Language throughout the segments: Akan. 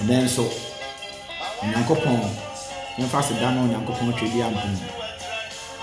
Ɛnnɛ nso, Onyankopɔn, yɛmfa aseda ne Onyankopɔn Tweaduampɔn,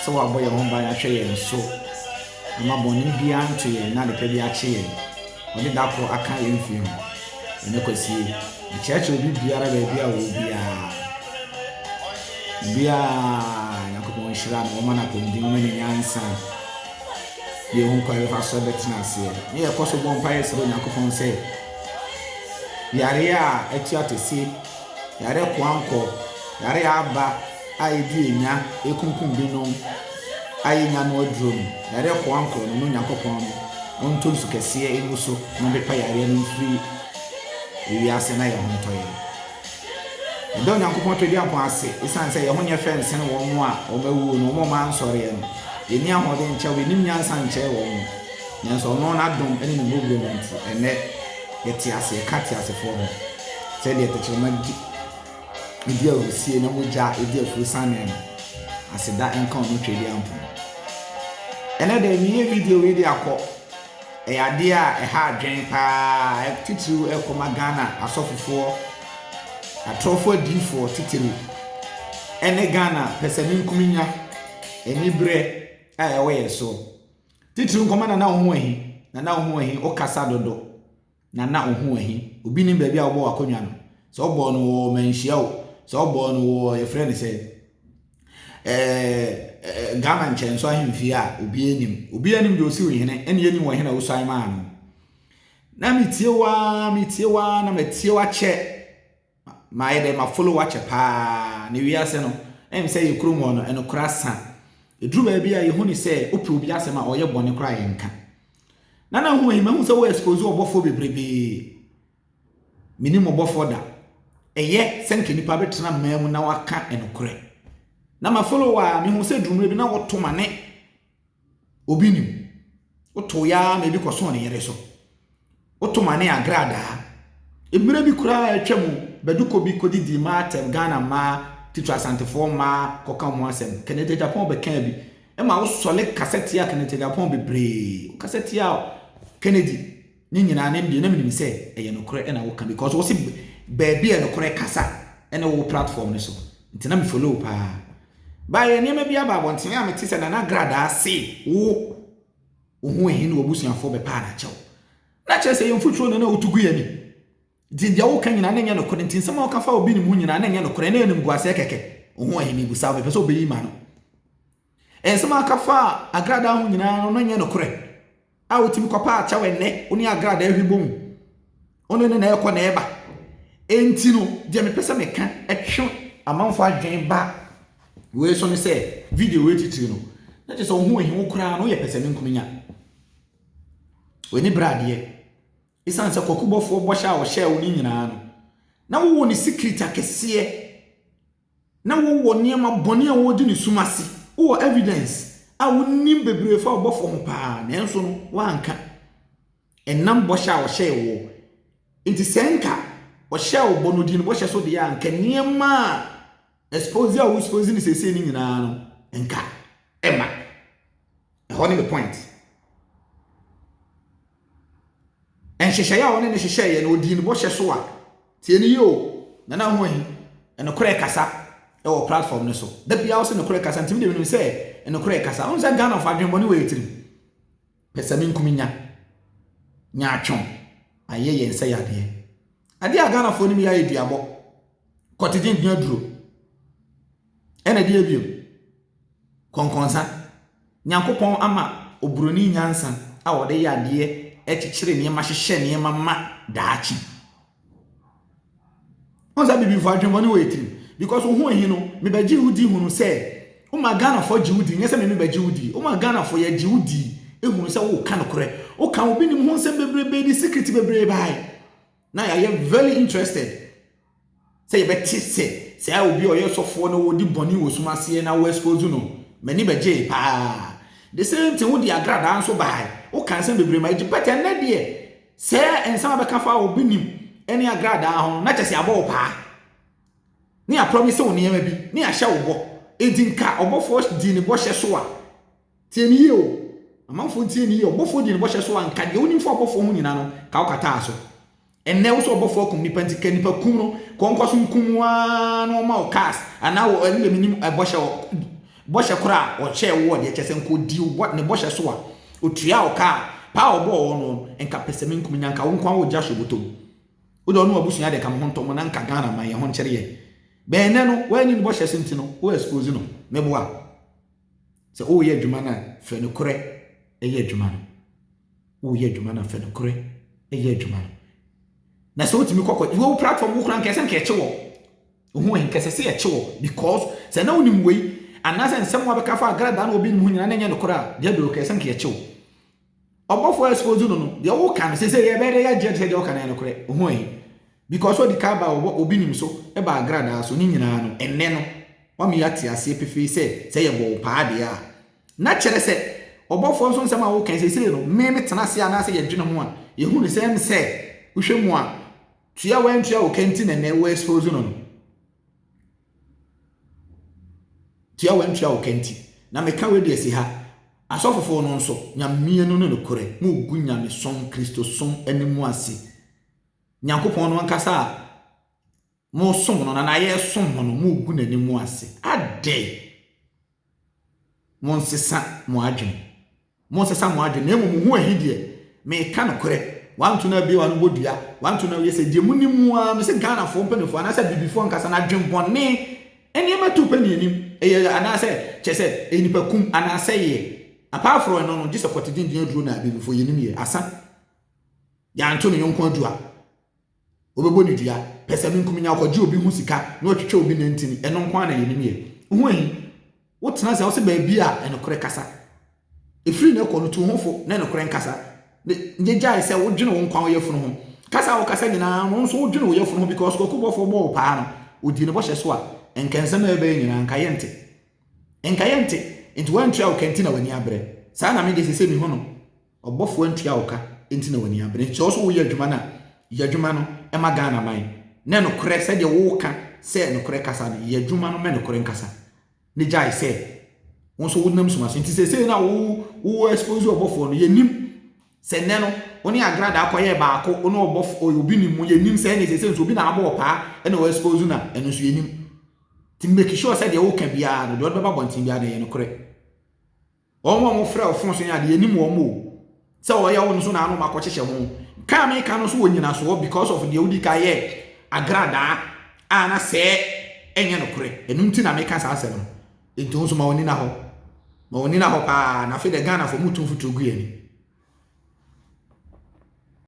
sɛ wabɔ yɛn ho ban ahwɛ yɛn so ama bɔne biara anto yɛn na adepa bi akye yɛn. Ɔde da koro aka yɛn mfiri ho. Ɛnnɛ kwasie, mekyerɛkyerɛ obi biara baabi a ɔwɔ biara. Obiara, Nyankopɔn nhyira no, wɔma no apɔmuden, wɔma no nyansa, deɛ ɛho kwan bɛfa so bɛtena aseɛ. Ne yɛkɔ so bɔ mpaeɛ srɛ Onyankopɔn sɛ, Yareɛ a atu atɛsie, yareɛ koankɔ, yareɛ a aba a ɛdi ɛnya ɛkunkum binom a yɛnnya ano aduro no, yareɛ koankɔ no, na Onyankopɔn no ɔntɔ nsu kɛseɛ ngu so na ɔmpepa yareɛ no mfiri ewiase na yɛn ho ntɔ yɛn. Yɛda Onyankopɔn Tweaduampɔn ase esiane sɛ yɛn ho nyɛ fɛ nsen wɔn a wɔawuo no, wɔn a wɔansɔreɛ no. Yɛnni ahoɔden nkyɛ wɔn, yɛnnim nyansa nkyɛn wɔn. Nanso ɔno n'adom ne ne mmɔborɔ mu nti, ɛnnɛ yɛte ase, yɛka ateasefoɔ ho, sɛdeɛ tɛkyerɛma di di ahurisie na mogya di afuo sanee no. Aseda nka ɔno Tweaduampɔn. Ɛnnɛ da, yɛyi video wei de akɔ. Ɛyɛ adeɛ a ɛha adwene pa ara, titiriw ɛrekɔma Ghana asɔfofoɔ, atorɔfoɔ adiyifoɔ titiriw, ne Ghana pɛsɛmenkominya aniberɛ a ɛwɔ yɛn so, titiriw nkɔma Nana Ohoahi, Nana Ohoahi, wo kasa dodo. Na na wo ho wɔ he? Obi nim baabi a wobɔɔ w'akonnwa no? Sɛ wobɔɔ no wɔ Manhyia o, sɛ wobɔɔ no wɔ yɛfrɛ no sɛ ɛɛ Ghana nkyɛnso ahemfie a obiara nim. Obiara nim deɛ ɔsi wo hene, ɛne yɛnim wɔ hene a wosuan maa no. Na metie wo ara, metie wo ara, na matie wo akyɛ. Mayɛ dɛ ma follow wakyɛ paa na wiase no ɛm sɛ yɛ kurom hɔ no ɛnokorɛ asa ɛduru baabi a yɛhu no sɛ wopɛ obi asɛm a ɔyɛ bɔne koraa yɛnka Nana Nhu ayi mahu sɛ wo expose ɔbɔfoɔ bebrebee menim ɔbɔfoɔ da ɛyɛ sɛ nka nipa bɛtena mmaa mu na waka ɛnokorɛ na ma follow a mehu sɛ durummerɛ bi na woto ma ne Obi nim. Wotow yɛ ara ma ebi kɔsõ ne yere so. Woto ma ne agradaa. Mmere bi koraa a atwam no, Baduko bi kodidii mmaa atɛm, Ghana mmaa, titiriw Asantefoɔ mmaa, kɔka ho asɛm. Kenneth Agyapong bɛkaa bi. Ɛma wosɔre kasa tiaa Kenneth Agyapong bebree. Wokasa tiaa Kennedy. Ne nyinaa no ɛndeɛ na menim sɛ ɛyɛ nokorɛ na woka because wo se baabi yɛ nokorɛ kasa ɛne wo platform no so nti na me follow paa baa yɛ nneɛma bi aba abɔnten a mete sɛ nana gradaa se wo wo ho ehi ne wabusuafoɔ bɛpaa na kyɛw na kyerɛ sɛ yɛn mfuturo na na wotu gu yɛ ni nti deɛ woka nyinaa na nyɛ nokorɛ nti nsɛm a woka fa obi ne mu nyinaa na nyɛ nokorɛ na ɛnim guasɛ kɛkɛ wo ho ehi mebusa wo mepɛ sɛ wobɛyi ma no Nsɛm a aka faa agradaa ho nyinaa no, na ɛnyɛ nokorɛ. A wotumi kɔpa akyɛw ɛnnɛ, wo ne agradaa ahwi bom, wo ne no na ɛrekɔ na ɛreba. Enti no, deɛ mepɛ sɛ meka twe amanfoɔ adwene ba wei so ne sɛ, video wei titiri no, na kyerɛ sɛ wo ho ahi wo koraa no, woyɛ pɛsɛmenkominya. W'ani bere adeɛ. Ɛsiane sɛ kwakubɔfoɔ bɔhyɛ a wɔhyɛɛ wo no nyinaa no, na wowɔ ne secret akɛseɛ. Na wowɔ nneɛma bɔne a wogye no sum ase. Wowɔ evidence a wonim bebree fa ɔbɔfo ho paa, nanso no woanka. Ɛnam bɔhyɛ a ɔhyɛɛ wo. Nti sɛ nka ɔhyɛɛ wo bɔ no di no bɔhyɛ so deɛ a, nka nneɛma a expose a wo expose no seesei no nyinaa no nka ɛma. Ɛhɔ ne the point. Nhyehyɛeɛ a ɔne no hyehyɛeɛ no, ɔdii ne bɔhyɛ so a. Tie no yie o, Nana Ahoahi, nokorɛ kasa wɔ platform no so. Da biara ɔse nokorɛ kasa, nti me deɛ menim sɛ nokorɛ kasa. Wohu sɛ Ghana fo adwenbɔne wɔ yɛ tirim. Pɛsɛmenkominya, nyaatwom, ayɛ yɛn sɛ yadeɛ. Adeɛ a Ghanafoɔ nim yɛ ayɛ duabɔ, kɔtegye, dua duro. Ɛna deɛ bio, kɔnkɔnsa. Nyankopɔn ama obroni nyansa a ɔde yɛ adeɛ, ɛkyekyere nneɛma, hyehyɛ nneɛma ma daakye. Ɔn sɛ bibifo adwemmɔne wɔ yɛ tirim. Because wo ho ahi no, mebɛgye wo di hunu sɛ, woma Ghanafoɔ gye wo di, nyɛ sɛ me mebɛgye wo di. Woma Ghanafoɔ yɛgye wo di hunu sɛ woka nokorɛ. Woka obi nim ho nsɛm bebrebe, de secret bebree bae. na yɛayɛ very interested sɛ yɛbɛte sɛ saa obi a ɔyɛ sɔfoɔ na ɔdi bɔne wɔ sum aseɛ na wɔexpose no m'ani bɛgyee paa the same thing wode agradaa nso bae woka nsɛm bebree ma ɛgye but ɛnnɛ deɛ sɛ nsɛm a bɛka fa obi nim ɛne agradaa ho no na kyɛ sɛ abɔ wo paa ne apromise wo nneɛma bi ne ahyɛ wo bɔ enti nka ɔbɔfoɔ dii ne bɔhyɛ so a Tie no yie o. Amanfoɔ ntie no yie. Ɔbɔfoɔ dii ne bɔhyɛ so a, nka deɛ wonim fa ɔbɔfoɔ ho nyinaa no, ka wokataa so. Ɛnnɛ wo sɛ ɔbɔfoɔ akum nipa nti, ka nipa kum no, kɔ nkɔ so nkum waa na ɔma wo cars, anaa wɔ ɛne deɛ menim bɔhyɛ bɔhyɛ kora a ɔhyɛɛ wo wɔ deɛ kyɛ sɛ nka ɔdi ne bɔhyɛ so a, ɔtua wo ka a, paa a ɔbɔɔ wɔ no no, nka pɛsɛ me nkum nya, nka wo nko a wɔgya hyɛ bɔtɔ mu. Wode ɔno abusua deɛ ka mo ho ntɔ mo na nka Ghana man yɛ ho nkyere yɛ. Bɛn ɛnɛ no, woanni ne bɔhyɛ so nti no, wo expose no. Meboa. Sɛ woreyɛ adwuma no a, fa nokorɛ yɛ adwuma no. Woreyɛ adwuma no a, fa nokorɛ yɛ adwuma no. Na sɛ wotumi kɔkɔ, wo platform wo kora nkɛsɛ nka ɛkye wɔ. Ohu ɛ nkɛsɛ sɛ ɛkye wɔ because sɛ na wonim wei anaasɛ nsɛm a wɔbɛka fa agradaa na obi nim ho nyinaa na ɛnyɛ nokorɛ a, deɛ bɛwɔ kɛsɛ nka ɛkye wɔ. ɔbɔfo a expose no no deɛ woka no sese yɛ bɛyɛ yɛ agye sɛ deɛ woka no yɛ nokorɛ ohun yi because ɔdi ka ba ɔbɔ obi nim so ɛba agradaa so ne nyinaa no ɛnɛ no wama yɛ ate aseɛ pefee sɛ sɛ yɛ bɔ wo paa deɛ a na kyerɛ sɛ ɔbɔfoɔ nso nsɛm a woka sese no me me tena ase anaasɛ yɛ dwene ho a yɛ hu ne sɛ ɛm sɛ wohwɛ mu a tua wɔn antua wo kɛnti na ɛnɛ wo expose no no Tua wɔn ntua wo ka nti na me ka wei de asi ha. Asɔfofo no nso, Nyame no ne nokorɛ, mogu Nyamesom, Kristosom, no mu ase. Nyankopɔn no ankasa a mosom no na na yɛsom no no, mogu n'ani mu ase. Adɛn? Monnsesa mo adwen. Monnsesa mo adwen, na mmom ho ahi deɛ, meka nokorɛ, wanto no abie wano bɔ dua, wanto no awie sɛ, deɛ monim ara, mese Ghanafoɔ mpaninfoɔ anaasɛ Abibifoɔ ankasa no adwen bɔne, nneɛma tu pɛ nnianim, ɛyɛ, anaasɛ, kyerɛ sɛ, ɛyɛ nipa kum, anaasɛ yɛ, apart from ɛno no, gye sɛ kɔte denden aduro na Abibifoɔ, yɛnim yɛ, asa, yɛanto ne yɔnko adua. Wɔbɛbɔ no dua, pɛsɛmenkominya, ɔkɔgye obi ho sika na watwitwa obi nantini, ɛno nko ara na yɛnim yɛ. Wohu eyi? Wotena ase a, wose baabi a nokorɛ kasa. Ɛfiri na ɛkɔ no, tu wo ho fo na nokorɛ nkasa. Ne, gyae sɛ wodwene wo nkwa wo yafunu ho. Kasa a wokasa nyinaa no, wo nso wodwene wo yafunu ho because kwaku bɔfoɔ bɔɔ wo paa no, ɔdii ne bɔhyɛ so a, nka nsɛm a ɛbɛyɛ nyinaa, nka yɛnte. Nka yɛnte. Nti woantua wo ka nti na w'ani abrɛ. Saa na me deɛ seesei mehu no. Ɔbɔfoɔ ntua wo ka nti na w'ani abere nti sɛ wo so woyɛ adwuma no a yɛ adwuma no ma Ghana man na nokorɛ sɛdeɛ woka sɛ nokorɛ kasa no yɛ adwuma no ma nokorɛ nkasa na gyae sɛ wo nso wonam suma so nti seesei no a wo wo expose ɔbɔfoɔ no yɛnim sɛ nnɛ no wo ne agrada akɔyɛ baako wo ne ɔbɔfoɔ obi nim mu yɛnim sɛ ɛne seesei nso obi na abɔ ɔpaa ɛna wɔ expose no a ɛno nso yɛnim nti make sure sɛ deɛ woka biara no deɛ ɔde bɛba bɔnten biara no yɛ nokorɛ Wɔn a wɔfrɛ ɔfon so yi ade yɛnim wɔn o. Sɛ ɔyɛ wo no so na ano makɔkyekyɛ ho. Ka a meka no so wɔ nyinasoɔ because of deɛ wodi ka yɛ agradaa a na sɛɛ ɛnyɛ nokorɛ. Ɛno nti na meka saa asɛm no. Nti wo nso ma w'ani na hɔ. Ma w'ani na hɔ paa na afei deɛ Ghanafoɔ motu mfuturo gu yɛn ani.